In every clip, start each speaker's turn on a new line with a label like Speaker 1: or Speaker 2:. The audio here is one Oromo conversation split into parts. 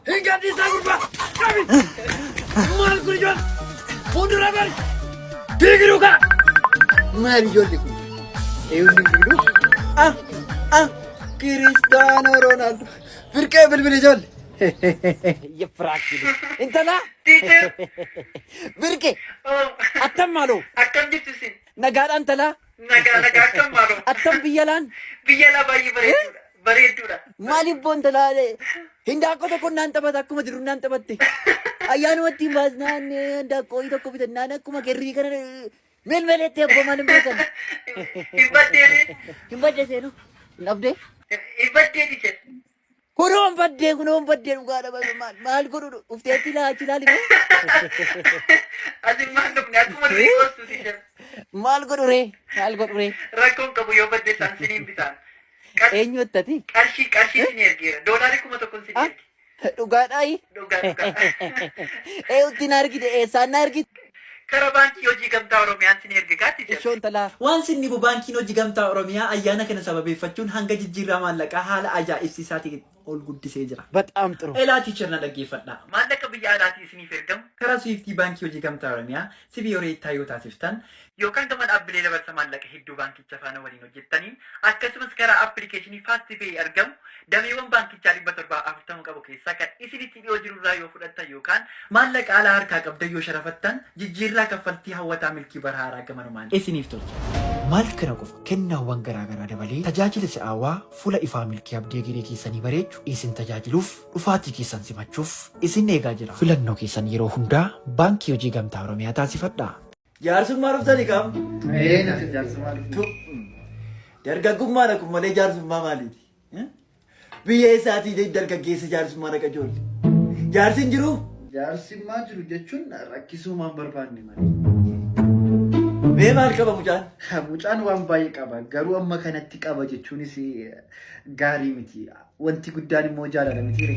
Speaker 1: Hin gadhiisaa gurbaa! Qabi! Maal kun ijoon? Fuuldura bari! Diigiruu kaa! Maal ijoolli kun? Eewulli bilbiluu? Ah! Ah! Kiristaanoo Roonaaldoo! Firqee bilbili ijoolli! Yefraakili. Intala? Birke. Attam maaloo? Akkam jirtu isin?
Speaker 2: Nagaadhaan talaa?
Speaker 1: Nagaa nagaa akkam
Speaker 2: maaloo. Akkam biyya laan?
Speaker 1: Biyya laa baay'ee
Speaker 2: bareedduudha. Bareedduudha. Maaliif boonta
Speaker 1: laale? Hindaaqqoo tokko naan taphata akkuma jiru naan taphatte. Ayyaanuma ittiin baasnaan hindaaqqoo tokko bitannaan akkuma garrii kana melmeleetti abbaa maal hin beekan. Hin baddeedee. Hin badde seenu. Hin dhabdee. Hin baddeedii
Speaker 2: jedhe. Kunoon
Speaker 1: baddee kunoon baddee dhugaa dha maal maal maal godhu dhufteetti laachi laali mee
Speaker 2: Asin maan dhufne akkuma durii koostu si jira. maal godhu ree
Speaker 1: maal godhu ree Rakkoon
Speaker 2: qabu yoo badde isaan siniin bitaan. Qarshii eenyu ittati
Speaker 1: qarshii qarshii sin
Speaker 2: ergeera. Doolaarii kuma tokkon sin erge. dhugaa dhaayi Dhugaa dhugaa.
Speaker 1: ee utti na argite eessaan na argite. Kara Baankii
Speaker 2: Hojii Gamtaa Oromiyaan sini erge kaa Teacher. Ishoo intalaa. Waan sin dhibu
Speaker 1: Baankiin
Speaker 3: Hojii Gamtaa Oromiyaa ayyaana kana sababeeffachuun hanga jijjiirraa maallaqaa haala ajaa'ibsiisaatiin ol guddisee jira. Baxaam xiru. Elaa Teacher
Speaker 1: na dhaggeeffadhaa.
Speaker 3: Maallaqa biyya alaatii
Speaker 2: isiniif ergamu karaa Swift Baankii
Speaker 3: Hojii Gamtaa Oromiyaa, CBORA, taa yoo taasiftan, yookaan gama dhaabbilee
Speaker 2: dabarsa maallaqa hedduu Baankii. Baankicha faana waliin hojjettaniin akkasumas karaa appilikeeshinii FastPay argamu dameewwan baankichaa 740 qabu keessaa kan isinitti dhiyoo jiru irraa yoo fudhattan yookaan maallaqa alaa harkaa qabdan yoo sharafattan jijjiirraa kaffaltii hawwataa milkii bara haaraa gamanumaan isiniif tolcha.
Speaker 3: Maal kana qofa kennaawwan garaa garaa dabalee tajaajila si'aawaa fuula ifaa milkii abdii egeree keessanii bareechu isin tajaajiluuf dhufaatii keessan simachuuf isin eegaa jira. Filannoo keessan yeroo hundaa Baankii Hojii Gamtaa Oromiyaa taasifadhaa. Jaarsummaa dhuftani kam? Ee natti jaarsummaa
Speaker 2: dhufte. Tu.
Speaker 3: Dargaggummaan akkuma malee jaarsummaa maaliiti? Eh? Biyya eessaatii jechuun dargaggeessa jaarsummaa dhaqa ijoolli. Jaarsi hin jiru? Jaarsummaa jiru
Speaker 4: jechuun rakkisuumaan barbaanne malee.
Speaker 3: Mee maal qaba mucaan? Mucaan waan baay'ee
Speaker 4: qaba garuu amma kanatti qaba jechuunis eh, gaarii miti. Wanti guddaan immoo jaalala miti.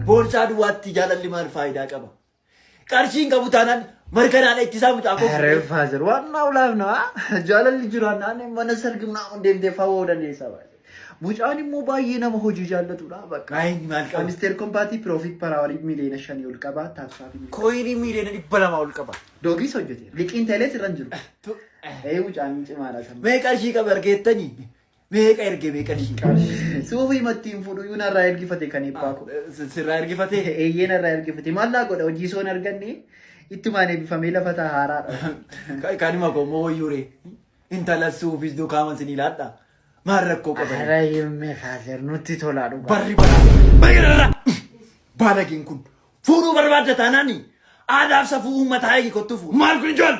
Speaker 4: Boorsaa
Speaker 3: duwwaatti jaalalli maal faayidaa qaba? Qarshii hin qabu taanaan markanaadha ittisaa mucaa koo. Ere faazer waan naa
Speaker 4: ulaaf naa jaalalli jiraan naanne mana sargi naa on deemtee fawoo dandeessaa baay'ee. Mucaan immoo baay'ee nama hojii jaallatudha bakka. Maayin maal qabu?
Speaker 3: Amisteer kompaatii piroofiit
Speaker 4: paraawalii miiliyoona shanii ol qaba taaksaa fi miiliyoona. Kooyinii miiliyoona dhibba
Speaker 3: lamaa ol qaba. Doogiis hojjete
Speaker 4: liqiin teelees irra hin jiru. Ee mucaan cimaadha sana. Mee qarshii qabu argeettanii?
Speaker 3: Meeqa erge meeqa diiqa. Suufii mattiin fuudhu
Speaker 4: yuu narraa ergifate kan eebbaa koo. Sirraa ergifatee.
Speaker 3: Eeyyee narraa ergifate.
Speaker 4: Maal naa godha hojii soon arganne ittumaan eebbifamee lafa ta'a haaraadha. Kanuma koo
Speaker 3: immoo wayyuure. Intala suufis dukaama isin ilaadha. Maal rakkoo qaba. Hara himme faazer
Speaker 4: nutti tolaa dhugaa. Barri baraa.
Speaker 3: Bayyarra. Baalageen kun. Fuudhuu barbaadda taanaani. Aadaaf safuu uummataa eegi kottufu. Maal kun ijoon.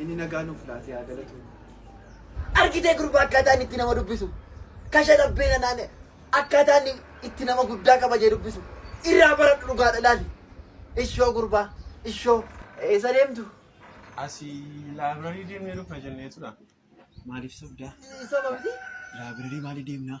Speaker 1: Inni nagaa nuuf
Speaker 5: laatee haa galatu.
Speaker 1: Argitee gurbaa akkaataa inni itti nama dubbisu. Kasha dhabbee nanaan akkaataa inni itti nama guddaa kabajee dubbisu. Irraa baradhu dhugaadha ilaali. Ishoo gurbaa. Ishoo. Eessa deemtu? Asii
Speaker 5: laabrarii deemnee dhufna jenneetudha. Maaliif
Speaker 3: sobdaa? Sababni?
Speaker 1: Laabrarii maaliif
Speaker 3: deemnaa?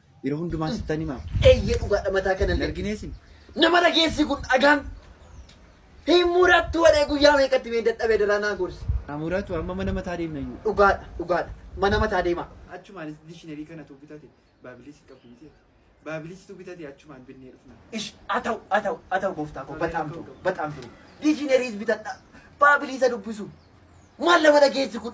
Speaker 3: Yeroo hundumaa sittan himaa. Eeyyee dhugaadha mataa
Speaker 1: kana Hin arginee isin. Nama
Speaker 3: dhageessii
Speaker 1: kun dhagaan. Hin murattu waree guyyaa meeqatti mee dadhabee daraa naa gorsi. Haa muratu amma mana
Speaker 3: mataa deemna iyyuu. Dhugaadha dhugaadha
Speaker 1: mana mataa deemaa. Achumaanis dishinarii
Speaker 5: kana tu bitate baabiliis hin qabdu miti baabiliis tu bitate achumaan binnee dhufna. Ish atau atau
Speaker 1: atau gooftaa koo bataam turu bataam turu. Diishineriis bitadha baabiliisa dubbisu. Maal nama dhageessi kun.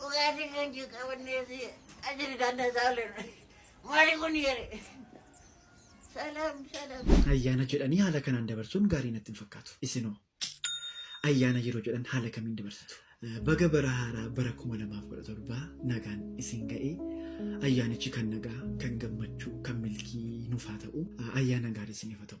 Speaker 6: Dhugaatiin kan jiru qabannee fi ajiri daandaa isaa oolleerra. Maali kun yeree? Salaam salaam.
Speaker 3: Ayyaana jedhanii haala kanaan dabarsuun gaarii natti hin fakkaatu. Isinoo ayyaana yeroo jedhan haala kamiin dabarsitu? Baga bara haaraa bara 2017 nagaan isin ga'ee ayyaanichi kan nagaa, kan gammachuu, kan milkii nuuf haa ta'u. Ayyaana gaarii isiniif haa ta'u.